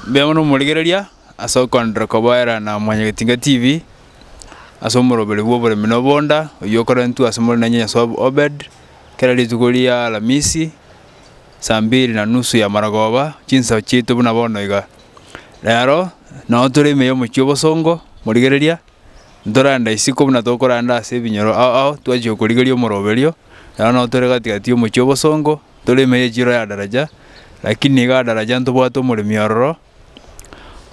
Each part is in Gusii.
Mbuya mono omorigereria ase okoenderera kobaera na Mwanyagetinga TV, ase omoroberi bw'oboremi na obonda, oyio okorentwe ase more nainye Nyasoe Obed, kera rituko ria alamisi, saa mbiri na nusu ya marogoba, chinsa chiaito buna bono iga. Rero, nao tore ime ya omochie obosongo, morigereria. ntoranda isiko buna tokoranda ase ebinyoro ao ao twachia okorigeria omorobe oria, naro nabo tore gati gati y'omochie obosongo, tore ime y'echiro ya daraja, lakini iga daraja ntobwate omoremi ororo,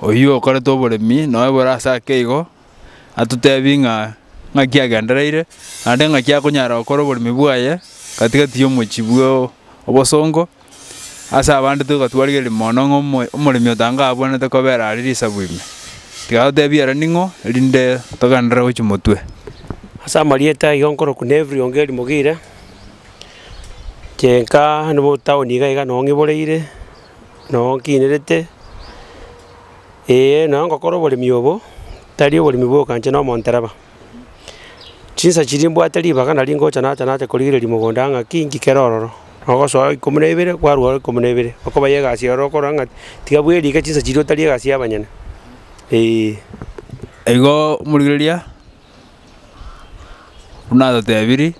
oyio okorete oboremi noe bore ase ake igo, atotebi ng'a ng'aki agendereire, naende ng'aki akonyara gokora oboremi bwaye gati gati y'omochie bwa obosongo. Ase abande togatwarigereria mono ng'a omo- omoremi otange abwenerete kobera aria risabu ime. Tiga totebie ere ning'o, erinde togenderere gochia motwe. Ase amarieta aiga nkorokwa Neville Ongeri Mogire, chenka nigo town iga iga noo ng'iboreire, noo nkiinerete, eeh nonye ngokora oboremi obo, tari oboremi bwoka inche na omontereba. Chinsa chiria mbwate ribaga nari ngocha nacha nacha korigereria mogondo aa ng'aki inki kere ororo. Ogosoa ikomi na ibere kwarwa ore ikomi na ibere, okobaiyia egasi ororo okorora ng'a tiga bweri iga chinsa chiria otari egasi ya abanyene eeh. Igo omorigereria buna atotebirie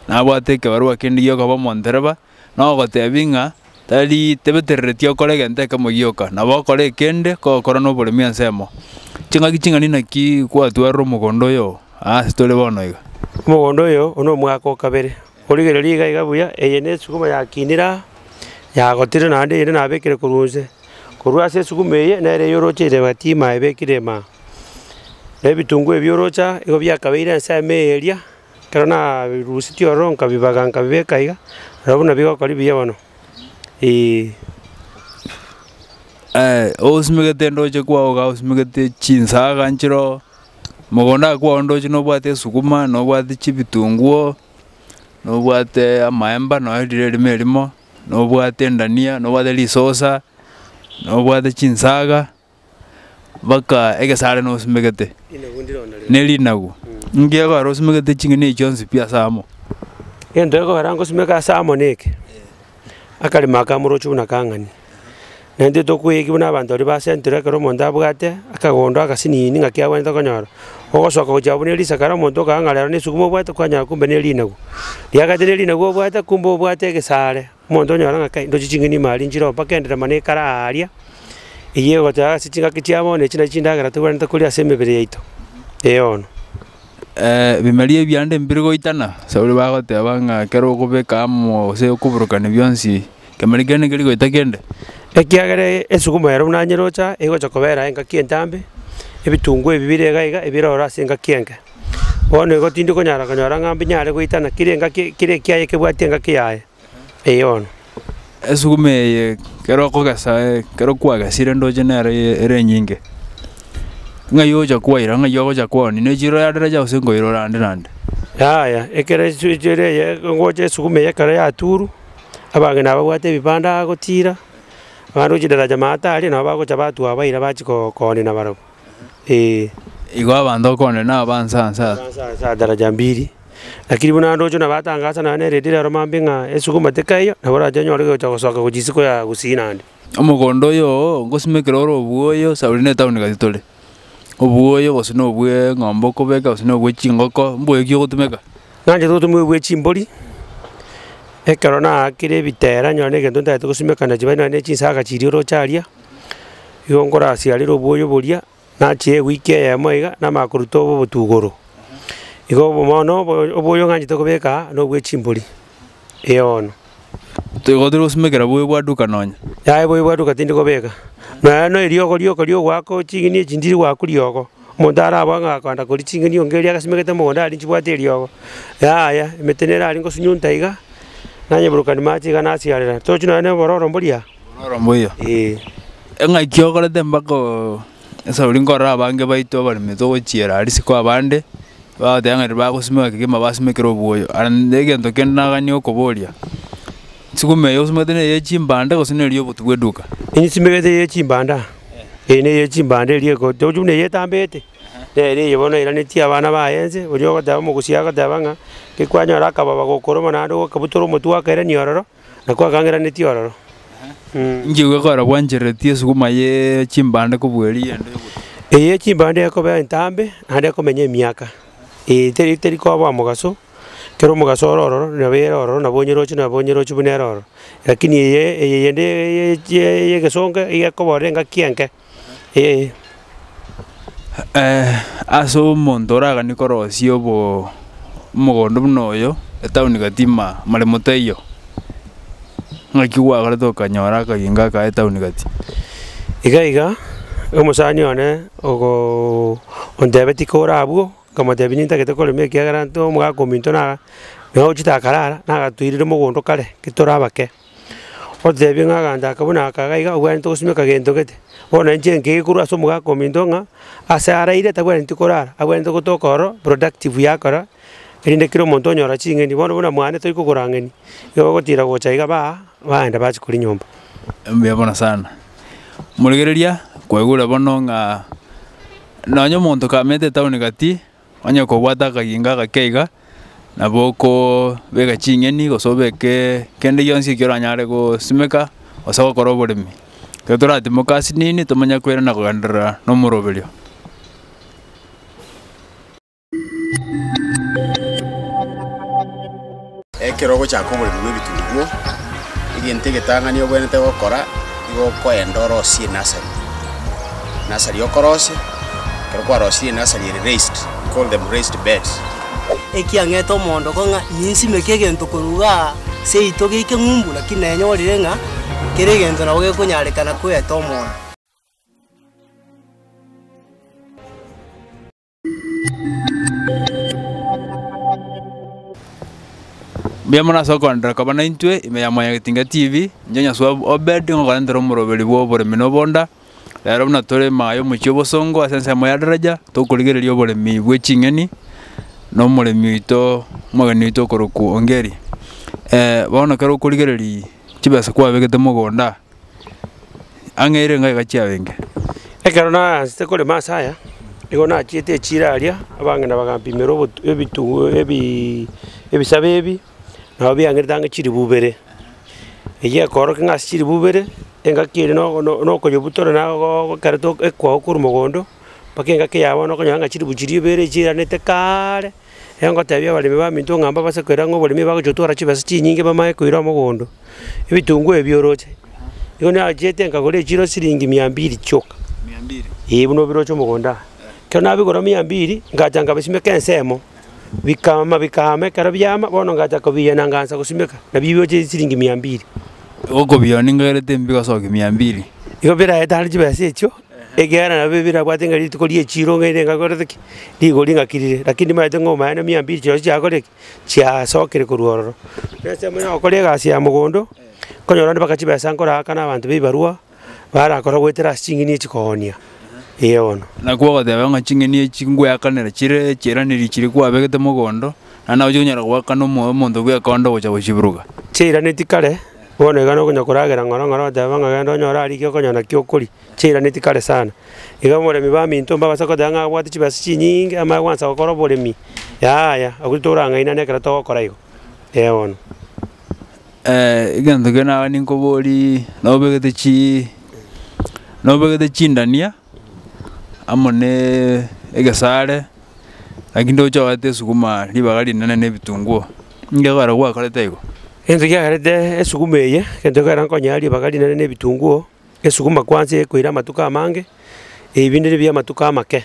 nabwate ekebarua kende gi'okoba omondereba. Nogotebia ng'a tari tebetereretie okore egento ekemo gioka, nabo okore ekende kogokora noboremi ensemo. Ching'aki ching'ani naki gwatwarire omogondo oyo oo aase tore bono iga? Omogondo oyo oo nomwaka o kabere. Origererie iga iga buya, eye nesuguma yakinire aa, yagotirire naende eyende nabekire korwa onse. Korwa ase esuguma eye nere eyorocheire ebatima ebekire ime aa. Na ebitunguo ebi oroche aa, igo biakabeire ensemo eye eria, Ekero nabirusitie ororo nkabibaga nkabibeka iga, nabo buna bigokoria buya bono, eeh. Ogosimegete ndoche kwao iga osimegete chinsaga nchiroo, mogondo oye kwao ndoche nobwate esuguma, nobwate chibitunguo, nobwate amaemba nonya rire erimo erimo, nobwate endania, nobwate risosa, nobwate chinsaga. baka egesare nosimegete ne rinagu, nki ekogera osimegete ching'eni echi chionsi pi ase amo? Egento ekogera ngosimeke ase amo neke, akarimo aka moroche buna kang'ani. Naende intwe tokoeiki buna abanto baria ba central ekero omonto abwate akagondo agasinini ng'aki abwenerete konyora, ogosoka gochia abwo buna erisiko kera omonto okagaa ng'a rero nesuguma obwate kwanyora kumbe ne rinagu. Riagete ne rinagu obwate kumbe obwate egesare. Omonto onyora ng'a kai ndochi ching'eni ime aria nchire omba kendire mana ekare aaria, eyio egoteeba ase chingaki chia bono echi nachi chindagera tobwenerete koria ase emebere yaito, eono. Ebimeri ebi ande mbire goitana, nabo ore bagoteba ng'a ekero okobeka amo gose okoburukania bionsi, kemeri kende nkeri goita kende. Ekiagera esuguma ero buna nyerocha, egocha kobera engaki entambe, ebitunguo ebi bire iga iga ebire ororo ase engaki enke. Bono igo tindi konyara konyora ng'a mbinyare goitana kera engaki kera ekiaye kebwati engaki yaye, eyono. Esuguma eye ekero okogesa ekero kwagesire ndoche nere eye ere enyinge, ng'ai ogocha kwaira ng'ai ogocha koonia ne chiro yadera chia gose nkoira ore ande nande. Yaya ekero esu chere eye ngocha esuguma eye ekero yaturwa, abange nabo babwate ebibanda agotira, abande gochia daraja maate aria nabo bagocha batua baira bachia koo koonia nabarabwo. ee. Igo abanto okonde naba nsa nsa. Nsa nsa daraja mbiri. Lakini buna ande ochio nabatangasa naye neredi rero mambe ng'a esuguma teka eyo, nabo orache onyore egocha gosoka gochia isiko ya gusii naende. Omogondo oyo oo ngosima ekero ore obuoyo sa ori ne etown gati tore, obuoyo gose na obwe ng'ombe okobeka gose na obwe chingoko, mboyo ki ogotumeka? Nanchete ogotumeka obwe chimbori, ekero naakire ebitera nyore na egento ntagete gosimeka na chibaini nonya na echisaga chiria oroche aria. igo nkorasiarere obwoyo boria, nachire ewiki eyemo iga, namanya koruta obo obotugoro. Igo obo bono obo obwoyo ng'anchete kobeka aa, na obwe chimbori, ee bono. Toigo tiri gosimekera boyo bwa duka nonya. Yaya oboyo bwa duka tindi kobeka, nonya na eriogo rioka ria ogoaka o ching'eni echi ndiri goaku riogo, omonto araboe ng'a akoenda koria ching'eni onga eria agasimegete mogondo aria nchibwate eriogo, yaya emete nere aria ngosunyunta iga, nanyeburukani mache iga nasiarera, tochi nonya na obororo mboria. Ororo mbuya. Ee. Eng'aki okorete mpaka oo esauri nkorora abange baito abaremi togochiera risiko abande, bagoteba ng'a riria bagosimeka kegima basimekire oboyo. Aye nende egento kende nagania okoboria, sukuma eye osimegete neye chimbande gose neri obotuko bwe duka? Nsimerete ye chimbanda, ee neye ye chimbanda eria eko tochia buna eye etambete, nere eye bono eranetie abana baye ense, oria ogoteba omogusii agoteba ng'a, ngekwanyora akababa gokoroba naende gokabutora omotwe okairania ororo. Na kwakang'eranetie ororo. Nchiigwe kora bwancherereti esuguma ye chimbande kobua eria yende y'ogotuba. Eye ye chimbande ekobea entambe naende ekomenya emiaka. Ee, teri teri koba omogaso, kera omogaso ore ororo nabo ere ororo, nabo onyerochi nabo onyerochi buna ere ororo. Lakini eye eye yende ye ye ye y'egesongo iga ekoborera engaki enke. Ase omonto oraganie korosia omogondo buna oyo, etaoni gatima amaremo taiyo, ng'aki gwagorete okanyora akagingo akaye etaoni gati. Iga iga omosani one ontebeti kore abwo, nkamotebia nintagete korema ekiagera ntwe omogaka ominto naye ochete akarara nagatuirire omogondo kare, ntwe tore abake. Oteebie ng'a aganda aka buna aka iga obwenerete gosimeka gento gete, bono inche nkeiga korwa ase omogaka ominto ng'a ase araire tabwenereti korara, abwenerete gotoka ororo productive yakora, erinde kera omonto onyora ching'eni. Bono buna mwane tori kogora ng'eni, igo ogotira gocha iga baa baenda bachia koria nyomba. Mbuya mono sana. Morigereria, kwaigure bono ng'a nonye omonto kamentire etaoni gati. Onye kobwate akagingo agake iga, nabo okobeka ching'eni gose obeke kende gionsi ekio oranyare gosimeka gose gokora oboremi. Ekero toratimoka ase nini tomanye koirana kogenderera na omoroberio. Ekero ogochaka oboremi bw'ebitunguo, egento egetang'ani obwenerete gokora, nigo okoenda orosie enasari, enasari okorosia, ekero kwarosirie enasari ere raised, we call them raised beds. Ekiang'ete omoondoko ng'a ninsimeke egento korwa iga aa seito geike ng'umbu, lakini nanyorire ng'a kera egento nabo gekonyarekana koeta omoyo. Mbuya mono ase okoenderera koba naintwe ime ya Mwanyagetinga TV. Inche Nyasuba Obed nigo nkorentera omoroberi bw'oboremi na obonda. Rero buna tore ime aya omochie obosongo ase ensemo ya Daraja, tokorigereria oboremi bwe ching'eni na omoremi oito omogeni oito okorokwa Ongeri. bono ekero okorigereria chibesa kwabegete mogonda. ang'eire ng'o iga chiabenge. Ekero naransete korema ase aya, nigo nachiete echiira aria, abang'ina bagampimera obotu ebitunwa ebiiii ebisabe ebi, nabo biang'erete ang'e chilifu ibere. Eyio ekoorokia ng'a ase chilifu ibere, engaki ere nogo no nokonyebutora nagooo ekero togo ekoa korwa mogondo, mpaka engaki ya bono okonyora ng'a chilifu chiria ibere chiiranete kaaare. Ekero ngoteebia abaremi baminto ng'a mbabase koira ng'a oboremi ebagochia gotwara chibesa chinyinge bamanye koira omogondo, ebitunguo ebi bioroche. Igo nachiete nkagora echiro siringi mia mbiri chioka, ee buna obiroche omogondo aa. Ekero nabigora mia mbiri, ngacha nkabisimeka ensemo, bikaama bikaama ekero biaama bono ngacha kobiiya na ngansa gosimeka, nabio biroche siringi mia mbiri. Okobiiyora ninkagerete mbigosokia mia mbiri. Igo biraetare chibesa echio. Ekiagera nababee birabwate ng'a rituko ri'echiiro ng'a erenge akorete ki? Rigori ng'a kirire. Lakini nimaete ng'a omanyene mia mbiri chionsi chiakorire ki? Chiaasokire korwa ororo. Na ase amang'ana agokora egasi ya mogondo, nkonyora onde mpaka chibesa nkoraakana abanto b'ebibarwa barakora goetera ase ching'eni echi koonia. Ee bono. Naki ogoteba ng'a ching'eni echi ngweakanera chire echiiranerio chiria kwabegete mogondo, naende nago chikonyara goakana omo omonto bw'ekondo gocha gochiburuka. Chiairaneti kare. Bono igana okonya koragera ng'oro ng'oro oteba ng'a genda onyore aria ekio okonya nakio okoria, chiiranetie kare sana. Iga omoremi baminto mbabase koteba ng'a abwate chibesa chinyinge amo agoansa gokora oboremi, yaya abwo torang'ainane ekero togokora igo, eh bono. egento kende nabanenkobori nobegete chii nobegete chindania. amo ne egesare, naki ndoche ogate esuguma ribaga rinene na ebitunguo, ninki ekero gwakorete igo? Egento kiagerete esuguma eye, egento ekero nkonye aa ribaga rinene na ebitunguo, esuguma kwansa ekoire amatuko amange, ebi binde bire bia amatuko amake.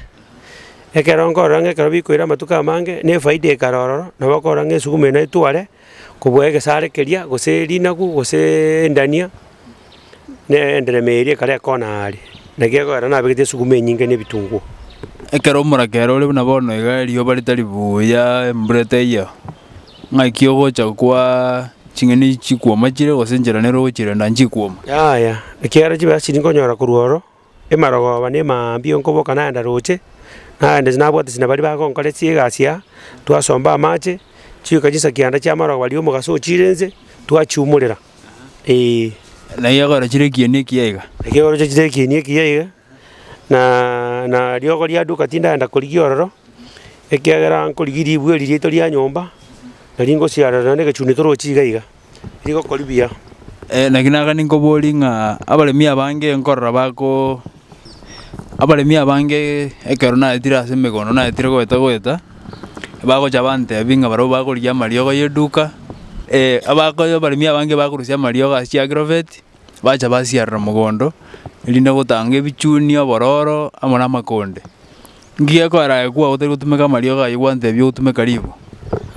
Ekero nkorora ng'a ekero bikoire amatuko amange, na efaida ekare ororo, nabo okorora ng'a esuguma eye naye tware. Kobua egesare keria, gose rinagu, gose endania, na enderema eria ekare ekona aare, na gegoera nabegetie esuguma enyinge na ebitunguo. Ekero omoraka ere ore buna bono iga, erioba ritari buya, embura etaiyo, ng'aki ogocha kwa ching'eni chikuoma chire, gose enchera nere ogochirenda nchikwoma? Yaya, ekiagera chibecha chiria nkonyora korwa oro. Emarogooba na emambia onkoboka nagenda roche, nagenda inche nabwate china baria bagonkora chiegasi aa, twasomba amache, chioka chinsa kianda chi'amarogooba riria omogaso ochiire inse, twachiumorera eeh. Na riagora chire ekieni ekiya iga. Erio oroche chire ekieni ekiya iga, naaaa na riogo riaduka tindagenda korigia ororo, ekiagera nkorigia ribu eri riaito ria nyomba, nari ngosiarera nonye na egechuni torochi iga iga. rigokori buya. Naki naga ninkoborie ng'a abaremi abange nkorora bako abaremi abange ekero naetire ase emegondo naetire goeta goeta, bagocha bantebia ng'a barabwo bakorigia amariogo y'eduka abakoyo abaremi abange bakorusia amariogo ase chiagrovet bacha basiarera mogondo erinde gotanga ebichuni, obororo amo na amakonde. Inki gekorage kwao otari gotumeka amariogo ayio gwancha ebi ogotumeka riibo?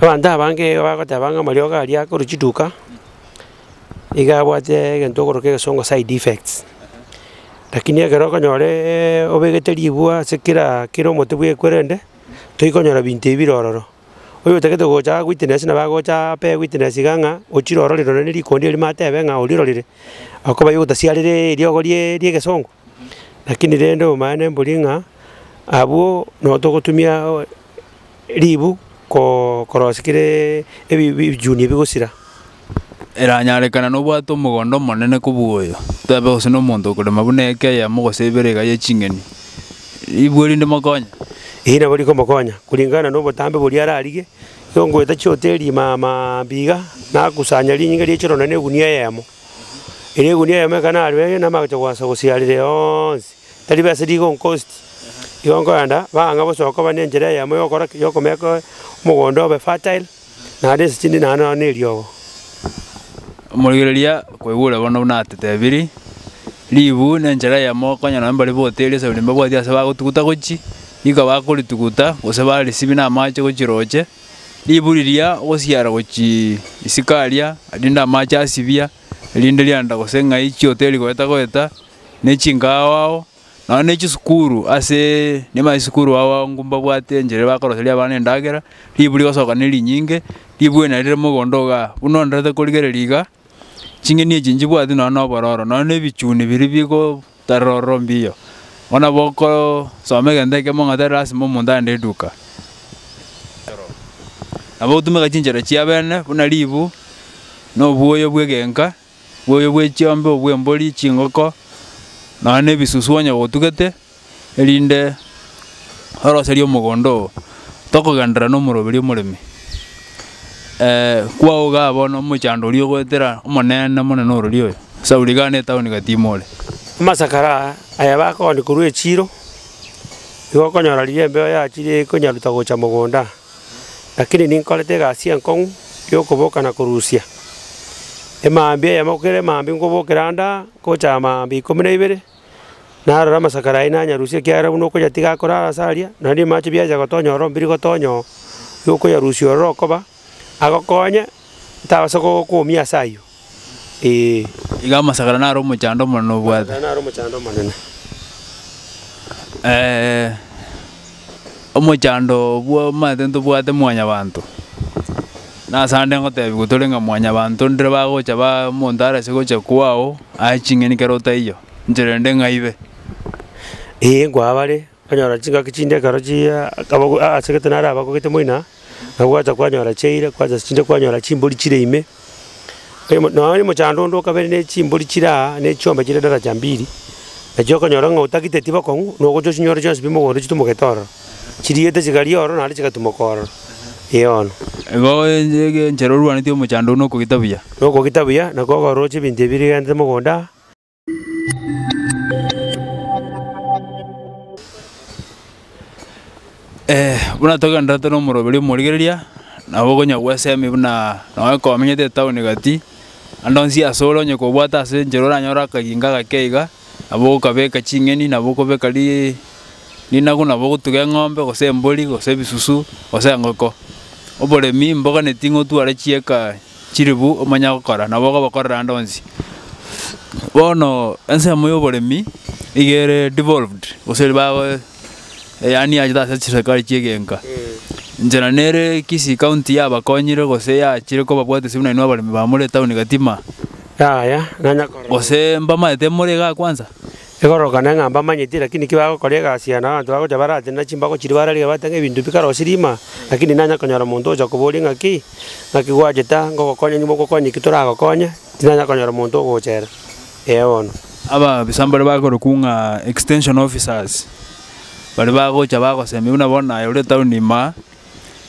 Abanto abange iga bagoteba ng'a amariogo aria akorwa chiduka, iga abwate egento okoroka egesongo side effects. Lakini ekero okonyoreeee obegete ribwa ase kera kera omote bw'ekwerende, toikonyora binto ebi bire ororo. Oyo otagete gocha aa witness nabo agocha apee witness iga ng'a ochire ororire nonye ne rikondi erimo atebe ng'a orirorire, akobae ogotasiareree eriogo riaaa ri'egesongo. Lakini rende omanye mbori ng'a abwo no togotumia ribu koo korosia kereee ebi bi ebichuni ebi bigosira. Eranyarekana nobwate omogondo omonene kobua oyo, toebe gose na omonto okorema buna eke eyemo gose ibere iga ye ching'eni, ribu erinde mokonye. Eyi nabo rikomokonya kuringana na obotambe boria ararige, igo ngoeta chihoteeli imaamaaambi iga, nakusanya rinyinga rie chirono na egunia eyemo. Erio egunia yamo ekana aria ere namagocha goansa gosiarera yonsi, tari besa rigonkosti. Igo nkoenda, bang'e bosa okoba nenchera eyemo yokora ki? Yokomeka omogondo obe fertile, naende ense chinde naende nonya ne eriogo. Omorigereria, kwaigure bono buna atetebirie, ribu nenchera eyemo konya nonya mbare boteria saburi mbabwati ase bagotuguta gochie, rika bakorituguta, gose barisibie namache gochia roche. Ribu riria ogosiara gochia isiko aria, rinde amache asibia, rinde rianda gose ng'ai chioteri goeta goeta, ne chinkaao ao, nonya ne chisukuru ase niba isukuru ao abwo mbabwate enchera bakoroseria abana endagera, ribu rigosoka ne rinyinge, ribu ena rire mogondo igaa, buna ondorete korigereria igaa, ching'eni echi nchibwati nonya na obororo, nonya na ebichuni biria bigo Tororo mbiyo, ng'a nabo okosoma egento ekemo ng'a tari lasima omonto aende eduka. Tororo. Nabo ogotumeka chinchera chia abene buna ribu, na obwoyo bw'egenka, obwoyo bwe chiombe, obw'embori, chingoko, nonya na ebisusu onye gotugete, erinde oroserie omogondo oo, tokogenderera na omoroberio omoremi. kwaogaa bono omochando oria ogoetera omonene omonene orori oyo, Sauli igaa netaoni gati ime ore. Amasakara aya bakooni korwa echiiro, nigo okonyora riria embeo yachire ekonyaruta gocha mogoonda, lakini ninkorete egasi enkong'u y'okoboka na korusia. Emambia eyemo kera emambia nkobokera ande aa, ngocha mambia ikomi na ibere. narore amasakara ayio nanyarusie, ekiagera buna okonyatiga akorara ase aria, naende rimache biacha gotonya ororo mbiri gotonya oo, igo okoyarusia ororo okoba, agokonye tabasa gokoumia ase ayio, eeh. Iga amasakara naro omochando omonene obwate. Amasakara naro omochando omonene. omochando bw'omanyete ntobwate mwanyabanto, nasande ngotebiwa tore ng'a mwanyabanto ndire bagocha ba omonto arase gocha kwao aye ching'eni kero otaiyo, nchera ende ng'aibe. Ee, nkwaa bare, onyora chingaki chinde ekero chiaaa akaba asegete nare abagogete moino aa, nabo gwacha kwanyora chiaira, kwachasi chinde kwanyora chimbori chire ime. Oyomo nonya oyomo chando onde okabere ne chimbori chire aa, ne chiombe chire daraja mbiri, nachio okonyora ng'a otagite etiba kong'u, nogocha ochinyore chionsi pi mogondo chitumogete ororo, chiriete chigari ororo naende chigatumoka ororo. Eono. Igo enche egenchere orwaneti omochando oino okogita buya. Nokogita buya, na kogoroche ebinto ebi birigentete mogondo aa. buna togendererete nomoroberio omorigereria, nabo okonya gwesemi buna nonye komenyete etaoni gati, ande onsi ase ore onye kobwate ase enchera oranyore akaginka gake iga, nabo okabeka ching'eni nabo okobeka ri rinagu nabo ogotuga eng'ombe gose embori gose ebisusu gose engoko. Oboremi mboka neti ng'otware chieka Chiribu omanya gokora, nabo okobakorera ande onsi. Bono ensemo ya oboremi niga ere devolved gose eri bago yaani yachete ase chiserikari chia egenka. Inche na nere Kisii county yabakonyire gose yachire kobabwate ase buna inwe abaremi ba more etaoni Gatima. Yaya, nanya korora. Gose mbamaete more igaa kwanza. Ekororokana ng'a mbamanyeti, lakini ki bagokora egasi yaye, na abanto bagocha baratenena chimbago chiria bararigia bate ng'a ebinto ebi karosie riima, lakini nanya konyora omonto ogocha koboria ng'a ki, ng'aki gwacheta, ngogokonya onye mogokonya ki toragokonya, tinanya konyora omonto ogochera. Ee bono. Ababisa mbaria bakorokwa ng'a extension officers, baria bagocha bagosemia buna bono naye ore etaoni ime aa,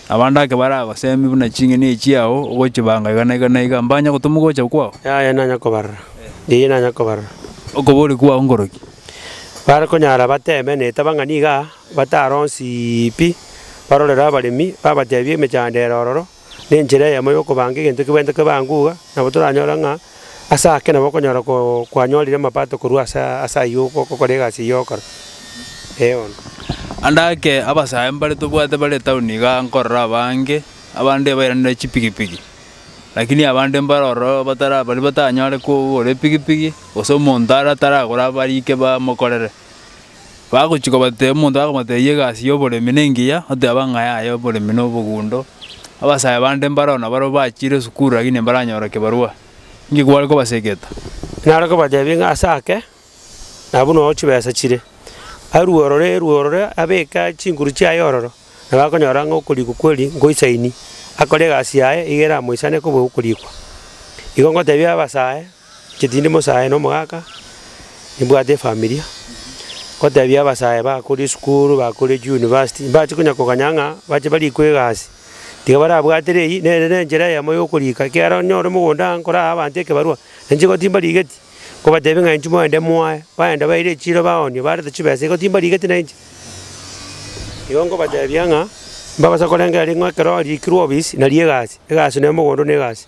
Abanto ake baragoseemie buna ching'eni chiao ogochibanga igana igana iga, mbanya gotoma ogocha kwao? Yaya nanya kobarora, yaya nanya kobarora. Okobori kwao nkoroki? Bare konyara bateme na etabang'a niga bataronsi pi, barorere abaremi, babatebie emechandera ororo nenchera eyemo yokobanga egento kebwentokebangwe iga, nabo toranyore ng'a Ase ake nabo okonyora kwanyorire amapato korwa ase ayio ogokora egasi eyio ogokora. Eono. Ande ake abasae mbare tobwate bare etaoni iga nkorora abange, abande bairanire chipigipigi, lakini abande mbare ororo batara baria batanyare kogora epigipigi, gose omonto are ataragore abariike bamokorere. Bagochia kobatebia, omonto akamotebia egasi y'oboremi nengiya, oteba ng'a yaya oboremi na obogundo. Abasae bande mbaroo nabarabwo bachiire esukuru lakini mbaranyora kibarua, inki kware kobasegeta? Nare kobatebia ng'a ase ake nabwo noyo chibesa chire, arue ororo erue ororo abeke chinguru chiaye ororo, nabo akonyora ng'a okorikwa kweri nkoisaini, akore egasi yaye iga eramoisane koba okorikwa. Igo ngotebia abasae Chetinde mosae na omogaka, nibwate efamilia, gotebia abasae bakore esukuru, bakore chiuniversity, mbache konya koganya ng'a bache barikwe egasi. Tiga barabwatere eywo, nere na enchera eyemo ya okorika, ekiagera onye ore mogondo iga nkoraa abanto ekebarua, na inche igo timbarigeti, nkobatebia ng'a inchuo moende moae, baenda baire echiro baonio, bareta chibesa, igo timbarigeti na inche. Igo nkobatebia ng'a, mbabasa korengera ring'o ekero riikirwe obisi, nario egasi, egasi na omogondo na egasi.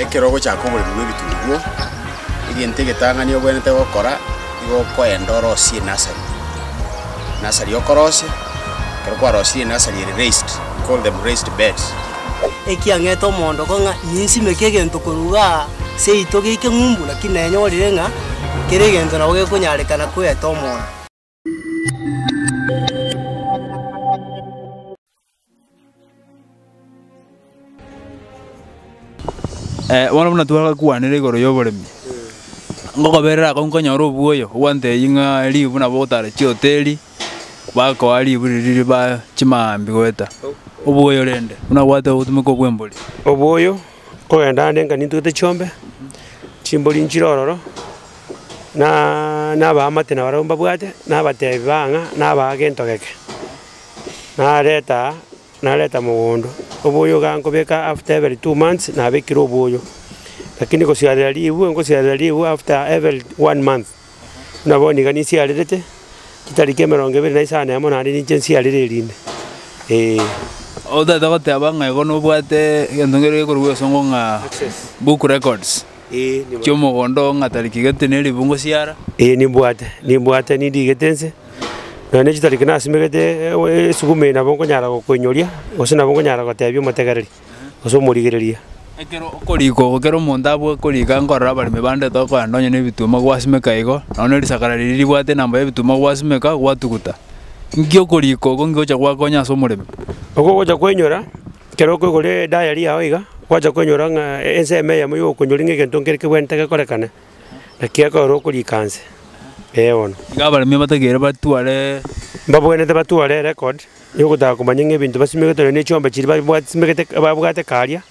Ekero ogochaka oboremi bw'ebitunguo, egento egetang'ani obwenerete gokora, nigo okoenda orosie enasari, enasari okorosia, ekero kwarosirie enasari ere raised, we call them raised beds. Ekiang'ete omoondoko ng'a ninsimeke egento korwa iga aa seito geike ng'umbu, lakini nenyorire ng'a kera egento nabo gekonyarekana koeta omondo. Eh, bono buna twagakwanera igoro y'oboremi, ngokoberera akong'u nkonyora obuoyo, ogwancha eyio ng'a ribu nabo ogotara chihoteli, bakoa ribu riria riba chimambia goeta, obuoyo rende, buna obwate obotumeka obw'embori. Obuoyo Kogenda ande nka nintugete chiombe, chimbori nchire ororo, naaaa nabaamate na barabwo mbabwate, nabatebi baa ng'a nabaa gento geke. Naretaa nareta mogondo, oboyo igaa nkobeka after every two months nabekire oboyo, lakini gosiarera rigwe ngosiarera rigwe after every one month. Nabo niga ninsiarerete, chitariki emerongo ebere na isano na emo naende ninche nsiarere erinde, ee. Obo tata goteeba ng'a igo nobwate egento nkere gekorokwa gesongo ng'a book records chi'omogondo oo ng'a tariki gati na eribu ngosiara. Ee nimbwate, nimbwate nindigete nse, nonya ne chitariki nasimegete esuguma eye nabo nkonyara kokoinyoria, gose nabo nkonyara goteebia omotegereri. gose omorigereria. Ekero okoriika obo, ekero omonto abua koriika nkorora abaremi bande tokoenda onye nebituma gwasimeka igo, nonye ne risakara riria ribwate enamba y'ebituma gwasimeka, gwatuguta. Nki okoriika oko nkigocha gwakonya ase omoremi? Ogo ogocha koinyora, ekero okoigora edayari yao iga, gwacha koinyora ng'a ensemo eyemo iga okonyori ng'a egento nkere kebwenerete gekorekane, naki ekorora okoriika nse, ee bono. Iga abaremi abatakeire batware. Mbabwenerete batware erecord. Yogotaka komanya ng'a ebinto basimegete nonya ne chiombe chiria babwate simegete babwate karia,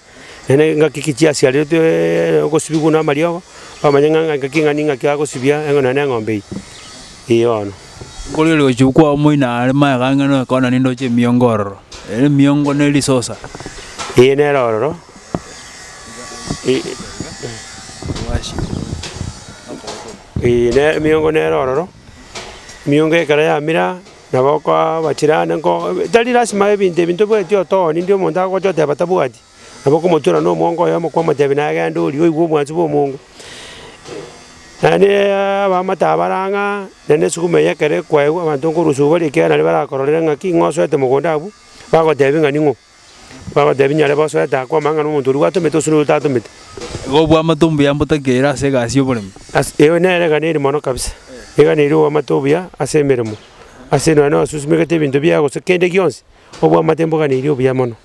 nonya ne engaki ki chiasiareretwe ogosibigwa buna amariogo, bamanye ng'a ng'a engaki ng'a ning'aki agosibia eng'o nonya ne eng'ombe eye, eeh bono. Koria oriogochia kwao moino are magega ng'a kona nindoche emiongo ororo, ere emiongo ne risosa. Eeh nere ororo eeh ne emiongo nere ororo, emiongo ekero yamera, Nabo okobachera aane ng'o tari lasima ebinto ebi ntobwetie otooni, ndi omonto agocha oteba tabwati, nabo okomotuera na omwongo oyomo kwamotebia naye genda orie oigwe obwansu bw'omongo. Naende abaamate aba bara ng'a naende esuguma eye ekero ekwaigwa abanto nkorusia obariekerere naende barakororere ng'aki ng'osoete mogondo abwo, bagotebia ng'a ning'o. Bagoteebia, Nyare bose oete akwo amang'ana omonto oria gwatomete gose noria otatomete. Igo obwamate ombuya mbotakia eira ase egasi y'oboremi. As, eyo nere egana eri mono kabisa, egana eria obwamate obuya ase emeremo. Ase nonya nosusimegete ebinto biago gose kende gionsi, obwamate mbogana eria obuya mono.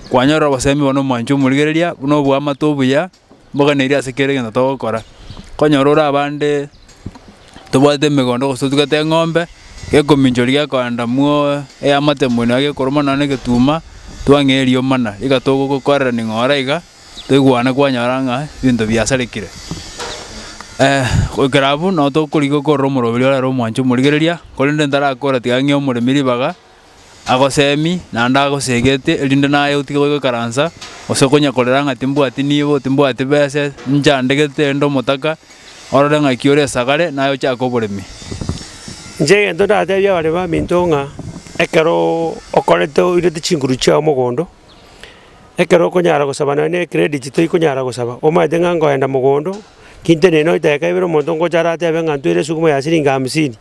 Kwanyorire obosemi bono mwanche omorigereria, buna obwamate obuya. mboganeirie ase kera egento togokora, konyora ore abande tobwate emegondo gose totugete eng'ombe, gekominchoria gekoenda mooo eyamate moino iga gekoruma nonya na egetuma, twang'e erio mana, iga togokorera ning'ora iga, toigwane kwanyora ng'a ebinto biasarekire. goikera abwo, nabo tokorigia okorora omoroberi orare omwancho omorigereria, korende ntarakora tiga ang'e omoremi ribaga. agoseemi naende agoseegete erinde naye otige goikaransa, gose konya korera ng'a timbwati nibo, timbwati bese, nchandegete erinde omotaka orore ng'aki ore esagare, naye ochake oboremi. Inche egento ndateebie abaremi baminto ng'a ekero okorete oirete chinguru chiao mogondo. Ekero okonyara gosaba nonya ne credit toyi konyara gosaba, omanyete ng'a nkoenda mogondo, kinteni nonya edageka ibere omonto ngocha aratebe ng'a ntweire esuguma ya siringi hamsini,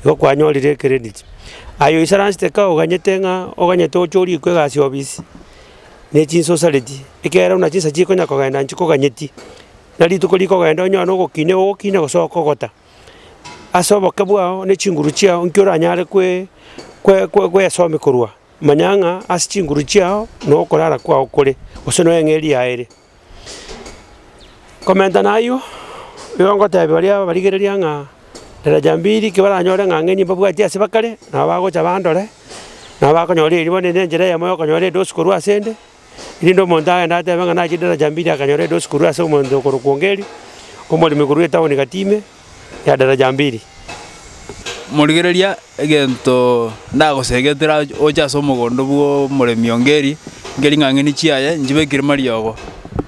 igo kwanyorire ecredit. Aye oisaransete ka oganyete ng'a oganyete oche orikwe egasi ya obisi, ne chinsa osareti, ekeroo buna chinsa chikonya kogenda nchikoganyeti, na rituko rikogenda onyore na ogokina igo ogokina gose okogota. Ase oboke bwao ne chinguru chiao nki oranyare kwe kwe kwesomia korwa. Manya ng'a ase chinguru chiao nokorara kwao kore, gose noyo eng'eria yao ere. Komenta nayio, nigo ngotebia baria abarigereria ng'a daraja mbiri ki baranyore ng'a ng'enye mbabwatie ase bakare, nabo bagocha bandore, nabo bakonyora eriba, ne nenchera eyemo yokonyora edosi korwa asende, Erinde omonto agende atebe ng'a nachire daraja mbiri akanyora edosi korwa ase omonto okorokwa Ongeri, omoremi korwa etaoni gati ime ya daraja mbiri. Morigereria, egento ndagosegetera oche ase omogondo bw'omoremi Ongeri, nki ring'ang'ani chiaye nchibekire mariogo.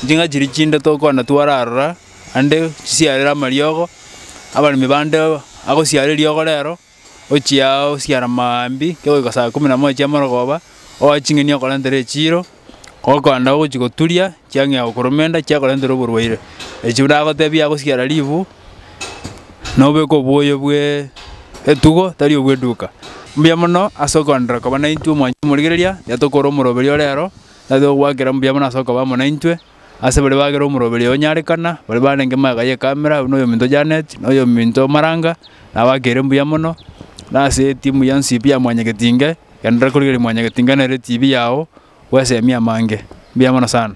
Ching'a chiria chinde tokogenda twara aroro ande chisiarere amariogo, abaremi bande agosiara eriogo rero. Ochia ao siara mambia, ekero goika saa ikomi na moja chiamorogoba, oe ching'eni okorentere echiiro, ogokonda ogochia goturia, chiang'ea gokoromenda, chiakorentera oborwaire. Echio ndagotebie agosiara ribu, nobeke oboyo bwe etugo tari obwe eduka. Mbuya mono ase okoenderera koba naintwe mwancha omorigereria, yatokora omoroberio ore aro, natogwakera mbuya mono ase okoba amo naintwe. Ase baria bagera omoroberio onyarekana, baria barenge magega y'ekamera, oyio noyominto Janet, na oyominto Maranga, nabakeire mbuya mono, na ase etimu ya Nsip ya Mwanyagetinge, genderera korigereria Mwanyagetinge nere etibi yao bw'esemi amange. Mbuya mono sana.